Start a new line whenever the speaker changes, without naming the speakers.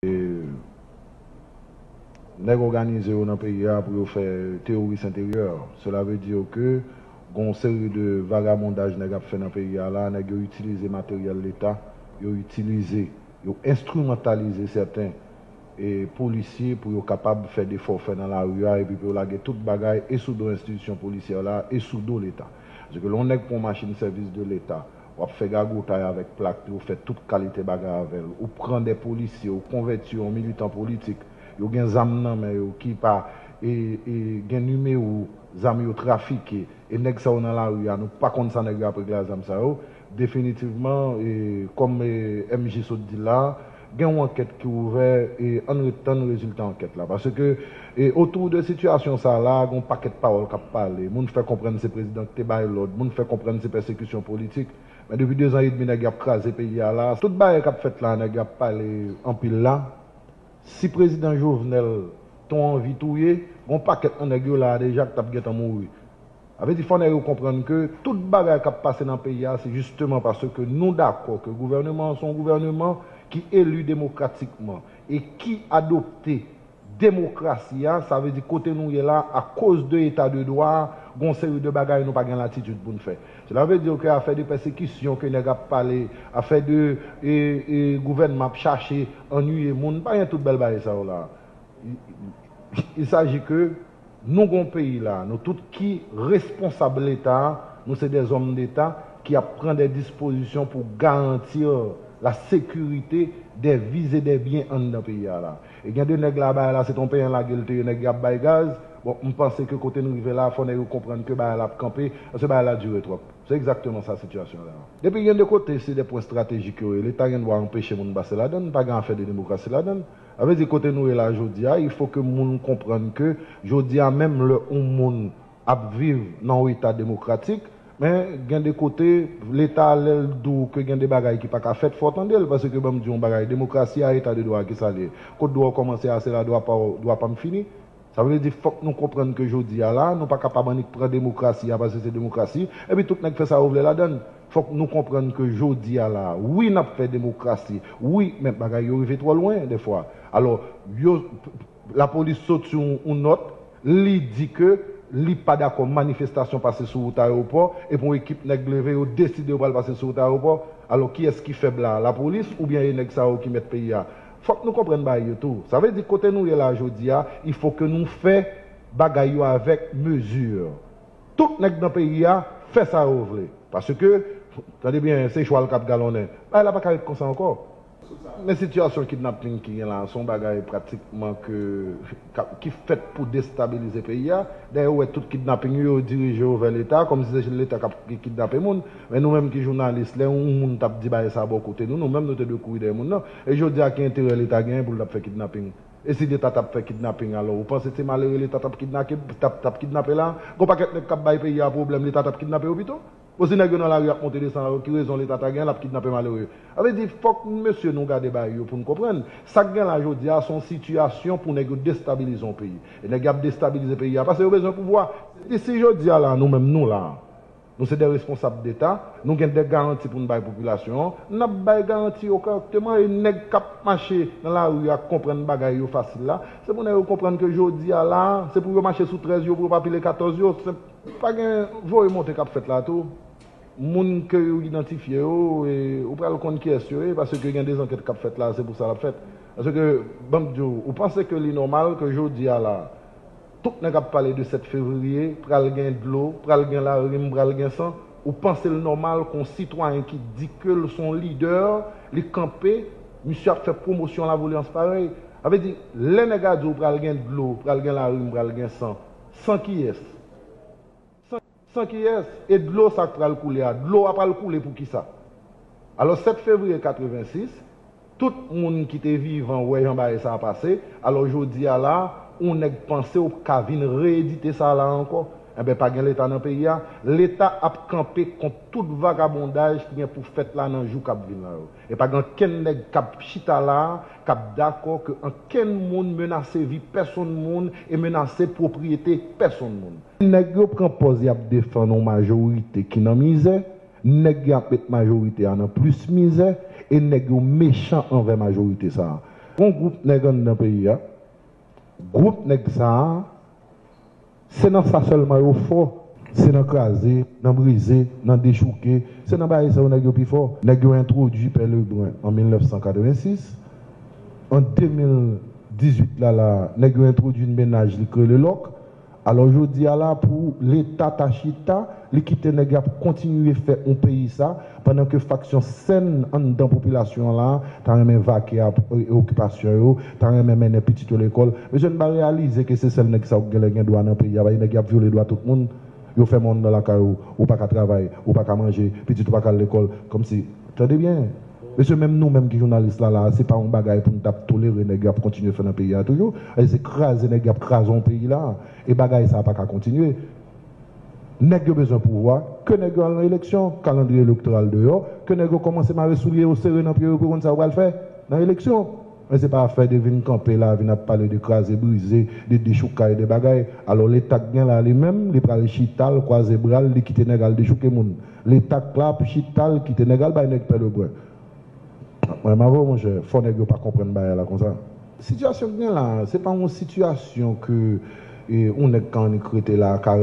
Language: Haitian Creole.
E nèg òganize yo nan peyi a pou yo fè teoris enteryè. Sela ve dire ke gon yon seri de vagabondaj nèg ap fè nan peyi a la, nèg yo itilize materyèl leta, yo itilize, yo enstrimantalize sèten e polisye pou yo kapab fè defòfè nan lari a epi pou yo lage tout bagay e sou do enstitisyon polisyè la e sou do leta. Paske lè yon nèg pran yon machin sèvis de leta, w ap fè gagotay avèk plak li, ou fè tout kalite bagay avè l, ou pran de polisye, ou konvèti yo an militan politik, yo gen zam nan men yo ki pa e e gen nimewo zam yo trafike e nèg sa yo nan lari a nou pa konn sa nèg yo ap regle a zam sa yo, definitivman e kòm e MJ sot di la a. Gen yon ankèt ki ouvè e ann ret tann rezilta ankèt la. Paske e otou de sitiyasyon sa la, gen yon pakèt pawòl k ap pale. Moun fè konprann se prezidan ki te bay lòd, moun fè konprann se pèsekisyon politik. Men depi dezan edmi nèg yo ap kraze peyi a la, tout bagay k ap fèt la nèg yo ap pale anpil la, si prezidan Jovenel t on anvi touye, gen yon pakèt nan nèg yo la a deja ki t ap gentan mouri. Sa vle di fò nèg yo konprann ke tout bagay kap pase nan peyi a se jisteman paske nou dakò ke gouvèneman an se yon gouvèneman ki eli demokratikman e ki adopte demokrasi a, sa vle di kote nou ye la a akoz de eta de dwa a gen yon seri de bagay nou pa gen latitid pou n fè. Sela vle di ke afè de pèsekisyon ke nèg ap pale, afè de e gouvènman ap chache annuiye moun, pa gen tout bèl bagay sa yo la a. Il saji ke. Nou gon peyi la nou tout ki responsab leta nou se des hommes d'état ki ap pran des dispositions pou garantir la sécurité des vies et des biens anndan peyi a la e gen de nèg la bagay la se ton penyen lagel te ye nèg yo ap bay gaz bon m panse ke kote n rive la fò nèg yo konprann ke bagay la ap kanpe paske bagay la dure trop se exactement sa situation la ye. Epi gen de kote se de pwen strategique yo ye leta gen dwa anpeche moun pase ladann pa gen afè de demokrasi ladann. Sa vle di kote nou ye la jodi a, il faut ke moun konprann ke jodi a menm lè yon moun ap viv nan yon eta demokratik, men gen de kote leta lè l di w ke gen de bagay ki pa ka fèt fò w tande l paske ban m di w yon bagay demokrasi a eta de dwa a kisa li ye? Kot dwa w kòmanse a se la dwa pa w, dwa pa m fini. Sa vle di fòk nou konprann ke jodi a la, nou pa kapab annik pran demokrasi a paske se demokrasi, epi tout nèg fè sa yo vle ladan l. Fòk nou konprann ke jodi a la, wi n ap fè demokrasi, wi, men bagay yo rive twò lwen dèfwa. Alò, yo, lapolis sot sou yon nòt, li di ke li pa dakò manifestasyon pase sou wout ayewopò, epi yon ekip nèg leve, yo deside yo pral pase sou wout ayewopò. Alò, kiyès ki fèb la a? Lapolis oubyen e nèg sa yo ki mèt peyi a? Fòk nou konprann bagay yo tou. Sa vle di kote nou ye la jodi a, il faut que nou fè bagay yo avèk mesure. Tout nèg nan peyi a fè sa yo vle. Paske, tande byen, se chwal k'ap galonnen. Bagay la pa ka ret konsa ankò. Men sitiyasyon kidnapping ki gen la, se yon bagay pratikman ke. ki fèt pou destabilize peyi a, dayè ou wè tout kidnaping yo yo dirije yo vè leta, kòm si se jel leta kap kidnape moun, men nou menm ki jounalis lè yon moun tap di bagay sa bò kote nou, nou menm nou te dwe kouri dèyè moun nan, e jodi a ki enterè leta genyen poul tap fè kidnaping, e si leta tap fè kidnaping alò ou panse se malere leta tap kidnape la, gon pakèt nèg kap bay peyi a pwoblèm leta tap kidnape yo pito. Bon si nèg yo nan lari ap monte desann alon ki rezon leta ta gen lap kidnape malere? Sa vle di fòk mesye nou gade bagay yo poun konprann sak gen la jodi a son sitiyasyon pou nèg yo destabilize yon peyi e nèg yap destabilize peyi a pase yo bezwen pouvwa epi si jodi a la nou menm nou la nou se de responsab deta nou gen de garanti poun bay popilasyon an nap bay garanti yo kòrèkteman e nèg kap mache nan lari a konprann bagay yo fasil la se pou nèg yo konprann ke jodi a la se pou yo mache sou 13 yo pou yo pa pile 14 yo senp. Pa gen voye monte kap fèt la tou. Moun ke yo idantifye yo e ou pral konn kiyès yo ye paske gen de zankèt kap fèt la se pou sa lap fèt. Paske banm di w, ou panse ke li nòmal ke jodi a la tout nèg ap pale de 7 fevriye pral gen dlo, pral gen larim, pral gen san, ou panse l nòmal ke yon sitwayen ki di ke l son lidè li kanpe misye ap fè pwomosyon lavolyans parèy? Sa vle di lè nèg a di w pral gen dlo, pral gen larim, pral gen san. San kiyès? San kiyès? E dlo sa k pral koule a? Dlo a pral koule pou kisa? Alò 7 fevriye 86, tout moun ki te vivan wè jan bagay sa a pase, alò jodi a la, yon nèg panse ou ka vin reyedite sa a la ankò? Enben pa gen Leta nan peyi a? Leta ap kanpe kont tout vagabondaj ki gen pou fèt la nan jou k ap vin la yo. E pa gen ankenn nèg k ap chita la a k ap dakò ke ankenn moun menase vi pèsonn moun e menase pwopriyete pèsonn moun. Nèg yo pran pòz y ap defann yon majorite ki nan mizè, nèg yo ap met majorite a nan plis mizè e nèg yo mechan anvè majorite sa a. Gen yon gwoup nèg anndan peyi a, gwoup nèg sa a, Se nan sa sèlman yo fò, se nan kraze, nan brize, nan dechouke, se nan bagay sa yo nèg yo pi fò. Nèg yo entwodui Pè Lebrun an 1986, an 2018 la la a nèg yo entwodui n mennaj li k rele Lòk, alò jodi a la pou leta ta chita, li kite nèg y ap kontinye fè on peyi sa, Pandan ke faksyon sèn anndan popilasyon an la ta renmen vake ap okipasyon yo, ta renmen mennen pitit yo lekòl, mesye n pa reyalize ke se sèl nèg sa yo k genlè gen dwa nan peyi a, paske nèg y ap vyole dwa tout moun, yo fèmen w anndan lakay ou, ou pa ka travay, ou pa ka manje, pitit ou pa ka al lekòl, kòmsi, tande byen, mesye menm nou menm ki jounalis la la a, se pa yon bagay pou n t ap tolere nèg yo ap kontinye fè nan peyi a toujou, paske se kraze nèg y ap kraze yon peyi la a, e bagay sa a pa ka kontinye. Nèg yo bezwen pouvwa, ke nèg yo al nan eleksyon, kalandriye elektoral deyò, ke nèg yo kòmanse mare soulye yo, sere nan pye yo pou yo konn sa yo pral fè nan eleksyon. Men se pa afè de vin kanpe la, vin ap pale de kraze brize, de dechoukay, de bagay. Alò leta k gen la li menm, li pral chita, l kwaze bra l, li kite nèg al dechouke moun. Leta k la ap chita, l kite nèg al bay nèg pèlebre. Mwen m avè w monchè, fò nèg yo pa konprann bagay la konsa. Sitiyasyon k gen la, se pa yon sitiyasyon ke yon nèg k annik rete la ka.